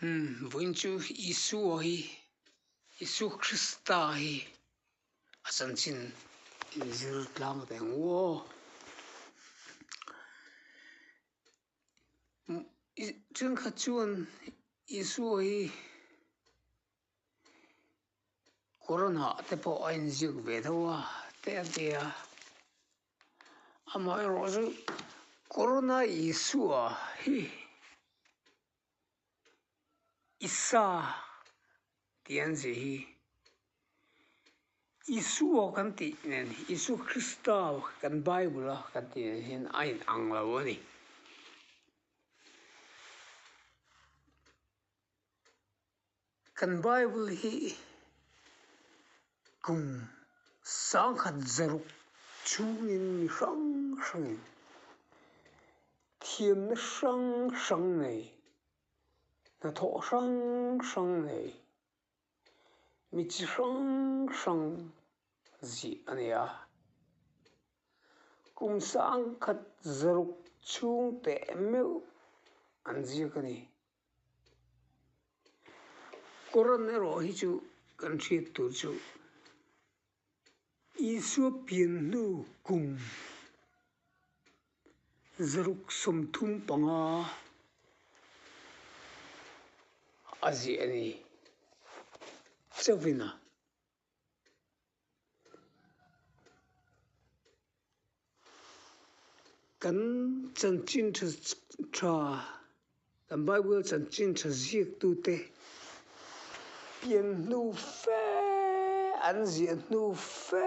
Vawiin chu Isua hi Isu Krista hi a chanchin in zirtlang ve ngaw ṭhenkhat chuan Isua hi. Corona te pawh a inziak ve deuh a te a ti a amaherawh chu corona isua hi isa tih an chih hi isua kan tih nen isu krista kan bible a kan tih nen hian a in ang lo a ni. Kan Bible hi kum sangkhat zaruk chungin mi hrang hrangin thiamna hrang hrang nei, hnathawh hrang hrang nei, mi chi hrang hrang zih a ni a. Kum sangkhat zaruk chhung teh meuh an ziak a ni. Koran erawh hi chu kan hriat tur chu Isua pian hnu kum zaruk sawmthum panga a ziah a ni. Chauhvin a. Kan chanchin tha tha, kan Bible chanchin tha ziaktute pian hnu fe an ziah hnu fe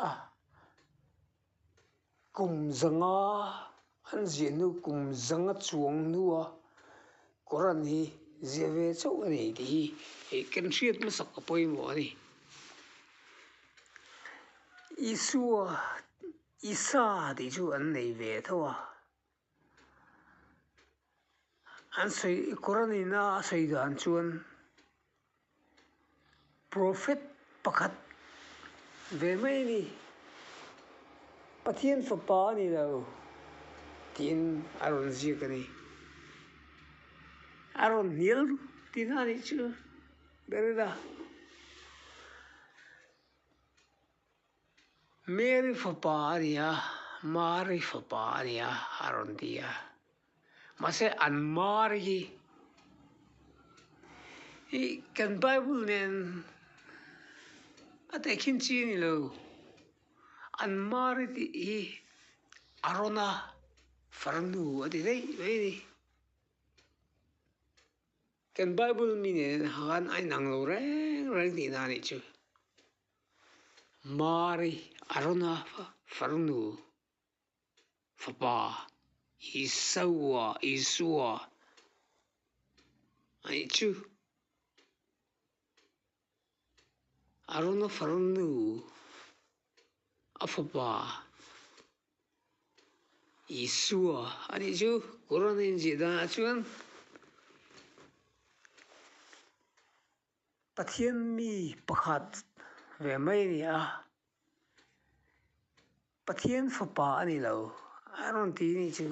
a. Kum zanga an ziah hnu kum zanga chuang hnua kawr an hi ziah ve chauh a nei tih hi ih kan hriat hmasak a pawimawh a ni. Isua Isa tih chu an nei ve tho a. An sawi i Koranina a sawi dan chuan Prophet pakhat ve mai a ni, Pathian fapa a ni lo tiin a rawn ziak a ni. A rawn hnial ru tih hna nih chu ber ila. Mary fapa a ni a, Mari fapa a ni a a rawn ti a, mahse an Mari hi i kan Bible nen a tehkhin chi a ni lo, an Mari tih hi Arona farnu a ti daih mai a ni. Kan Bible mi nen han a inang lo reng reng tihna a nih chu. Mari Arona farnu fapa Isua Isua ai chu Arona farnu a fapa Isua ani chu Quran a inziah dan ah chuan. Pathian mi pakhat ve mai a ni a, Pathian fapa a ni lo a rawn ti ni chu.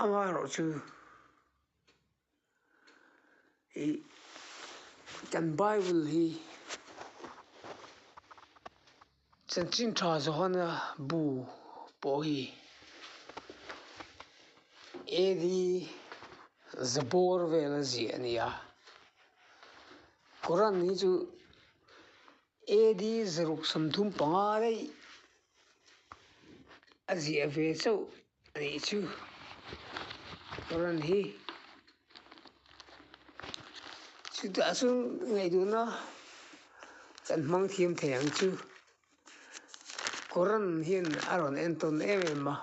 Anga erawh chu i kan bible hi chanchin tha zawhana bu pawh hi AD zabawr vela ziah a nia koran hi chu AD zaruk sawm dum panga daih a ziah ve chauh. Ani chu Run hi chutah chuan ngaihduhna kan hmang thiam thei ang chu Run hian a rawn en tawn em em a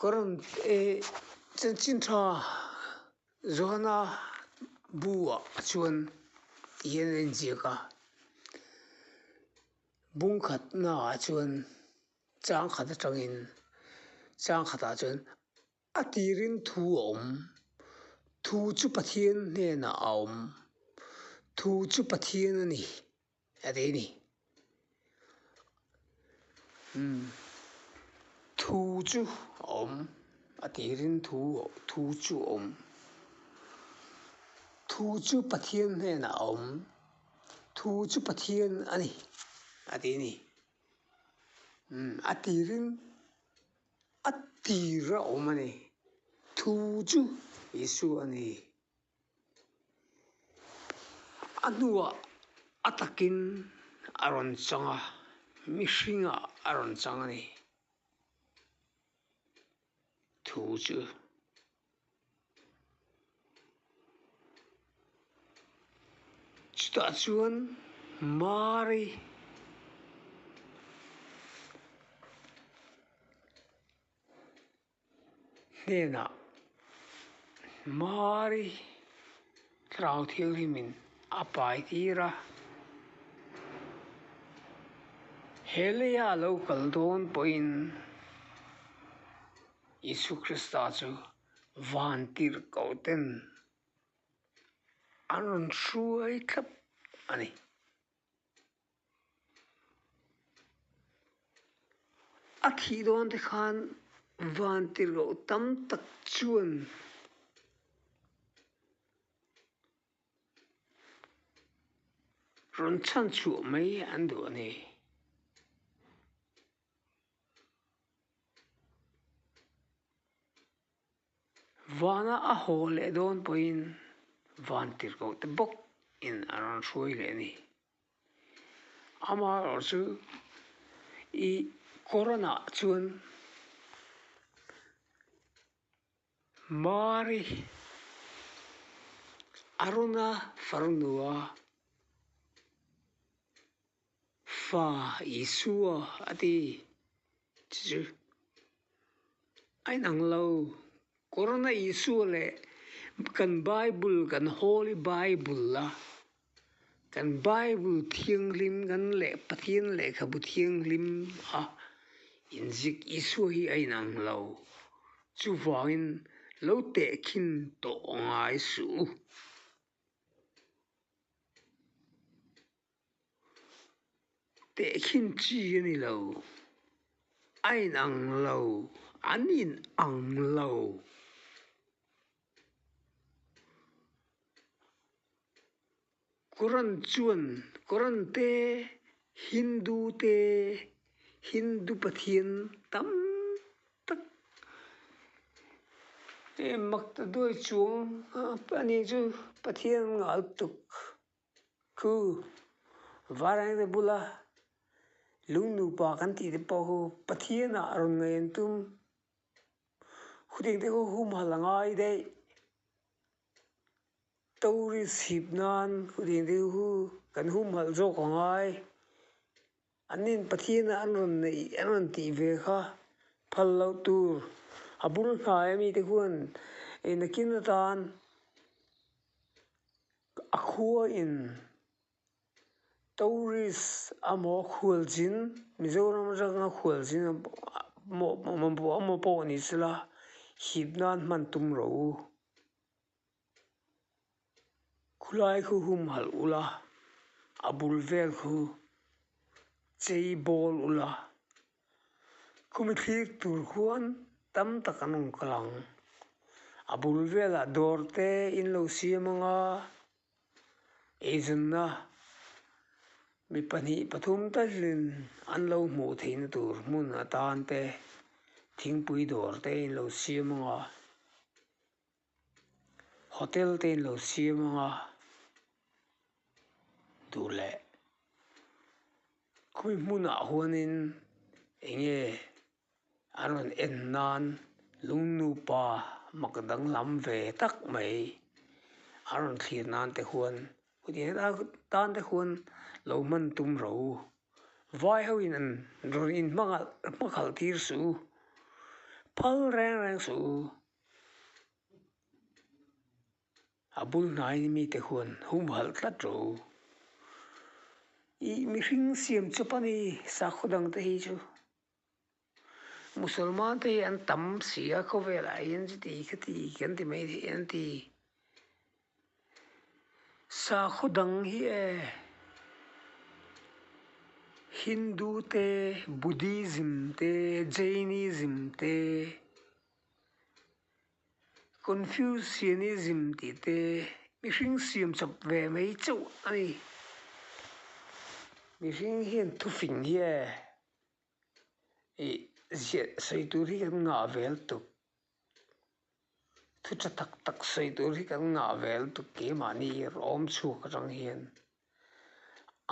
Run e Chanchin tha Zuana bu ah chuan tihian a inziak a. Bungkhat naah chuan changkhat atangin changkhatah chuan a tirin thu a awm thu chu Pathian hnenah a awm thu chu Pathian a ni a ti a ni umm thu chu a awm a tirin thu thu chu a awm thu chu Pathian hnenah a awm. Thu chu Pathian a ni, a ti ni. Umm a tirin a tir a awm a ni. Thu chu Isua a ni. A hnua a takin a rawn chang a, mihringah a rawn chang a ni. Thu chu Chutah chuan Mary hnenah Mary tlau thianghlimin a pai tir a, He lei a lo kal dawn pawhin. Isu Krista chu vantirhkohten an rawn hruai thlap a ni. A thih dawn te khan vantirhkoh tam tak chuan rawn chhan chhuah mai an duh a ni. Vana a haw leh dawn pawhin van tirhkoh te bawk in a rawn hruai hle a ni amaherawh chu ih corona chuan-- Mari, Aruna farnua, Fa Isua a ti. Chu chu a inang lo. Corona Isua leh kan Bible, kan Holy Bible a. Kan Bible Thianghlim kan leh Pathian lehkhabu thianghlim a inzik Isua hi a inang lo. Chuvangin lo tehkhin tawh ngai suh u. Tehkhin chi a ni lo, a inang lo, an inang lo. Koran chuan Koran te Hindu te Hindu pathian tam tak em Maktaduai chuang a ni chu pathian ngal tuk khu vareng te bula lungnupa kan tih te pawh khu pathianah a rawn ngaih an tum. Khutihte hu hum hal a ngai daih. Tawri chhip nan khutihte hu kan hum halh zawk a ngai. An in Pathian a an rawn neih an rawn tih ve kha phal loh tur a bul hnaia mite huan ei nakin atan a khuain-- Tourist amaw khualzin Mizoram atanga khualzin amaw pawh a ni sela hip nan hman tum ro u khulai khu hum halh ula a bul vel khu chei bawl ula khumi thlik tur khuan tam tak an rawn kal ang a bul velah dawr te in lo siam anga. Eizawnna mi pahnih pathum ta hian an lo hmuh theih na tur hmun atan te thingpui dawr te in lo siam ang a hotel te in lo siam ang a duh leh khawmi hmunah huanin eng nge-- a rawn en nan lungnupa mak danglam ve tak mai a rawn thlir nan te huan heti anga tan te huan lo hman tum ro vai ho in an rawn in hmang ah hmakhalh tir si u phal reng reng si u a bul hnai hi mi te huan hum halh tlat ro ih mihring siam chauh a ni sakhaw dang te hi chu. Musalman te hi an tam si a khawvel ah hian chiti khati kan ti mai theih an ti sakhaw dang hi e hindu te buddhism te jainism te confucianism tih te mihring siam chawp ve mai chauh a ni mihring hian thu fing hi e. ih ziah sawi tur hi kan ngah vel tuk thu tha tak tak sawi tur hi kan ngah vel tuk kemahni rawh a awm chhuak atang hian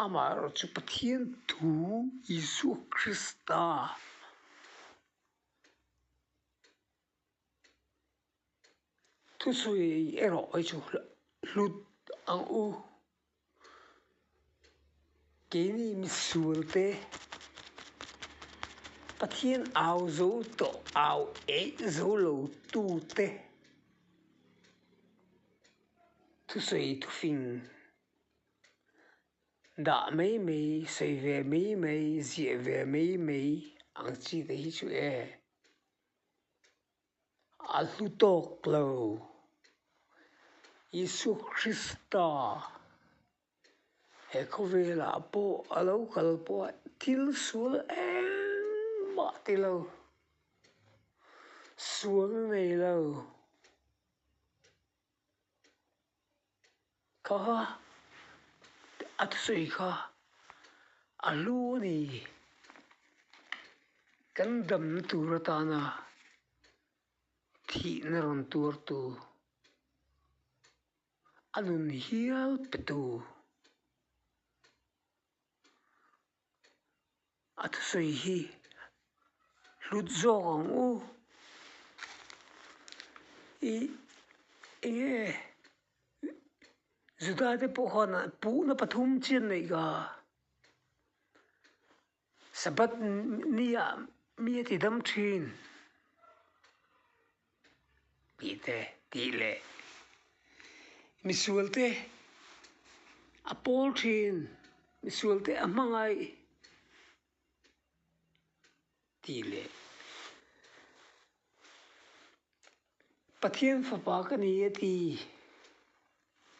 amah erawh chu pathian thu isua krista -- Thusawi erawh i chu hlut ang u. Keini misual te Pathian au zo tawh au eih zo lo tu te thusawi thufing dah mai mai, sawi ve mai mai, ziah ve mai mai ang chi te hi chu e. a hlu tawk lo. Isua Krista he khawvelah pawh a lo kal pawh a thil sual engmah ti lo, sual nei lo. Kha a thusawi kha a hlu a ni. Kan damna tur atana thihna rawn tuar tu a nun hial pe tu. a thusawi hi hlut zawk ang u. I enge e? Juda te pawh khan an puhna pathum chian neih ka. Sabbath ni ah mi a tidam thin. Mite tih leh misual te a pawl thin, misual te a hmangaih tih leh Pathian fapa ka ni a ti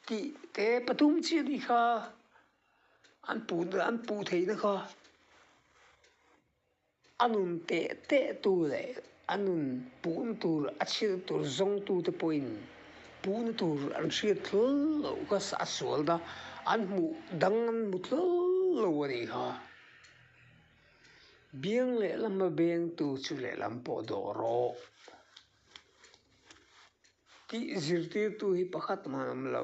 tih te pathum chiah ni kha an pu an pu theihna kha. A nun teh teh tu leh a nun pum tur a chhir tur zawng tu te pawhin pum tur an hriat thlul lo ka a sual na an hmuh dang an hmu thlul lo a ni kha. Biang leh lam a beng tu chu leh lam pawh dawh rawh tih zirtir tu hi pakhat hman awm lo.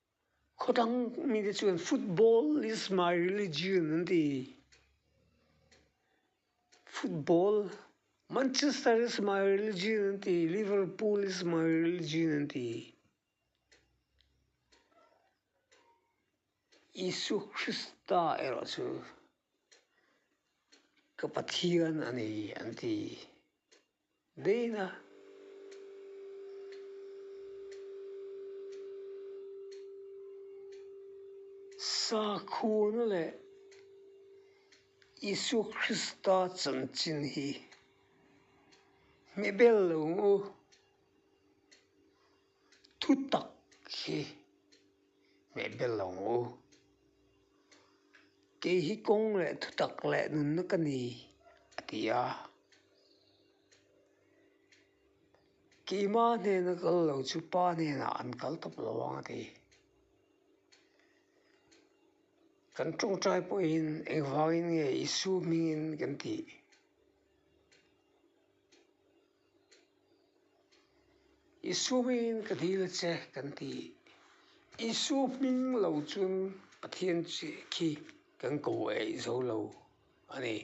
Khawtang mite chuan football is my religion an ti. Football, Manchester is my religion an ti, Liverpool is my religion an ti. Isu Krista erawh chu ka Pathian a ni an ti. Dana sakhua leh Isu Krista chanchin hi hme bello u. thutak hi hmeh ber lo u. Kei hi kawng leh thutak leh nunna ka ni a ti a. Keima hnena kal lo chu pa hnenah an kal tawp lo ang a ti. Kan tawngtai pawhin engvangin nge Isua hmingin kan tih? Isuiin ka dil che kan ti. Isu hming lo chuan Pathian chi khi kan ko eih zo lo a ni.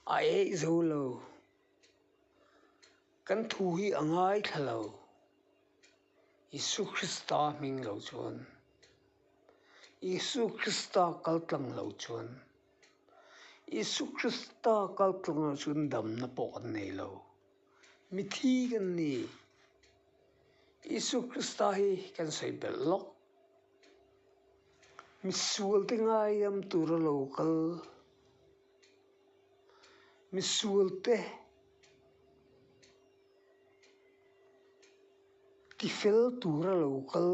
A eih zo lo, kan thu hi a ngaithla lo. Isua Krista hming lo chuan. Isua Krista kal tlang lo chuan. Isua Krista kal tlang lo chuan damna pawh kan nei lo. Mithi kan ni. Isua Krista hi kan sawi belh lawk. Misual te ngailam tur a lo kal. Misual te. Ti fel tur a lo kal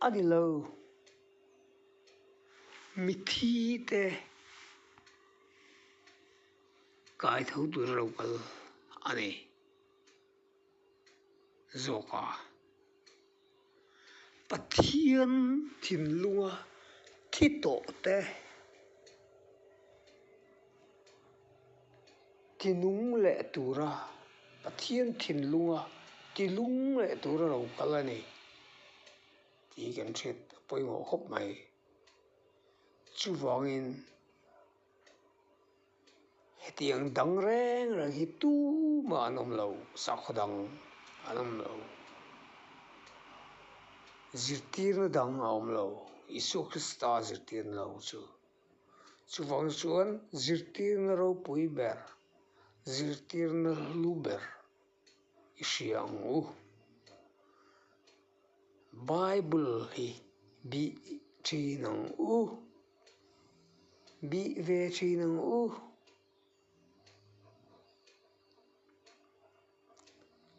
a ni lo. Mithi te kai tho tur a lo kal a ni zawk a. Pathian thinlunga thi tawh te, tinung leh tura, Pathian thinlunga tilung leh tur a lo kal a ni tih kan hriat pawimawh khawp mai. Chuvangin. Hetiang dang reng reng hi tumah an awm lo, sakhaw dang an awm lo, zirtirna dang a awm lo, Isua Krista zirtirna lo chu. Chuvang chuan zirtirna ropui ber, zirtirna lu ber. i hria ang u. Bible hi bih thin ang u, bih ve thin ang u.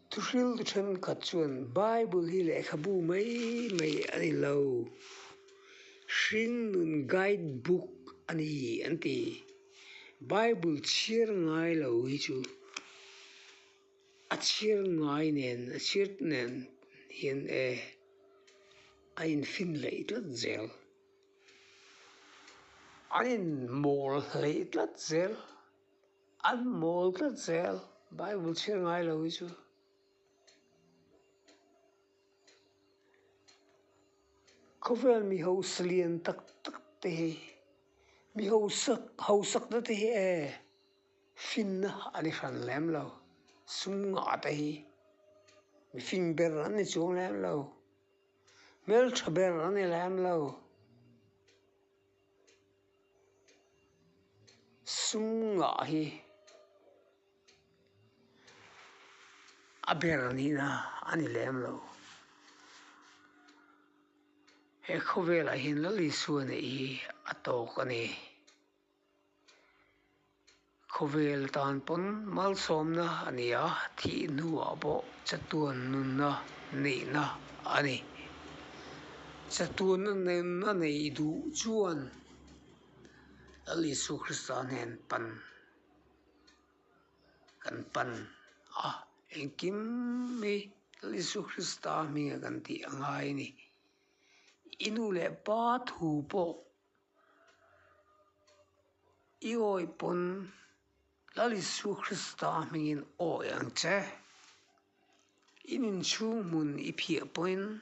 Thu hril tu thenkhat chuan bible hi lehkhabu mai mai a ni lo, hringnun guide book a ni an ti. Bible chhiar ngai lo hi chu a chhiar ngai nen a chhiar nen hian e a infinlaih tlat zel a inmawl hlei tlat zel an mawl tlat zel Bible chhiar ngai lo hi chu. Khawvel mi hausa lian tak tak te hi mi hausa hausak na te hi e fin na a ni hran lem lo sum nghah te hi mi fing ber an ni chuang lem lo hmeltha ber an ni lem lo sum nghah hi. A ber nihna a ni lem lo. He khawvel ah hian lal Isua neih hi a tawk a ni. Khawvel tan pawn malsawmna a ni a, thih hnu ah pawh chatuan nunna neihna a ni. Chatuana nunna nei duh chuan lal Isu Krista nen pan. kan pan a engkim mai Isua Krista a hming a kan tih a ngai a ni i nu leh pa thu pawh i awi pawn lal Isua Krista a hming in awi ang che i inchhung hmun i phiah pawhin--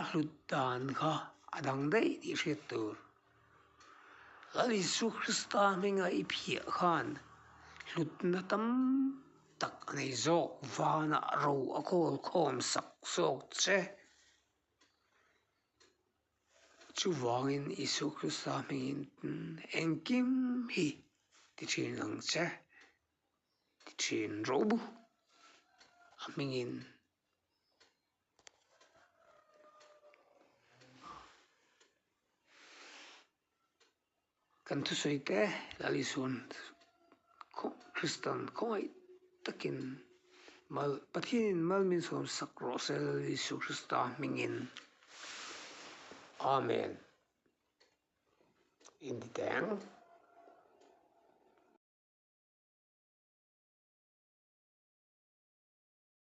A hlut dan kha a dang daih tih hriat tur. Lal Isua Krista hmingah i phiah khan hlutna tam tak a nei zawk vana ro a kawl khawm sak zawk che. Chuvangin Isua Krista hmingin engkim hi ti thin ang che, ti thin ro bu a hmingin. Kan thusawi te Lalisawn khaw Kristian khawngaih takin mal Pathianin Malminsawm sak rawh sel Jisu Krista hmingin Amen inti teh ang.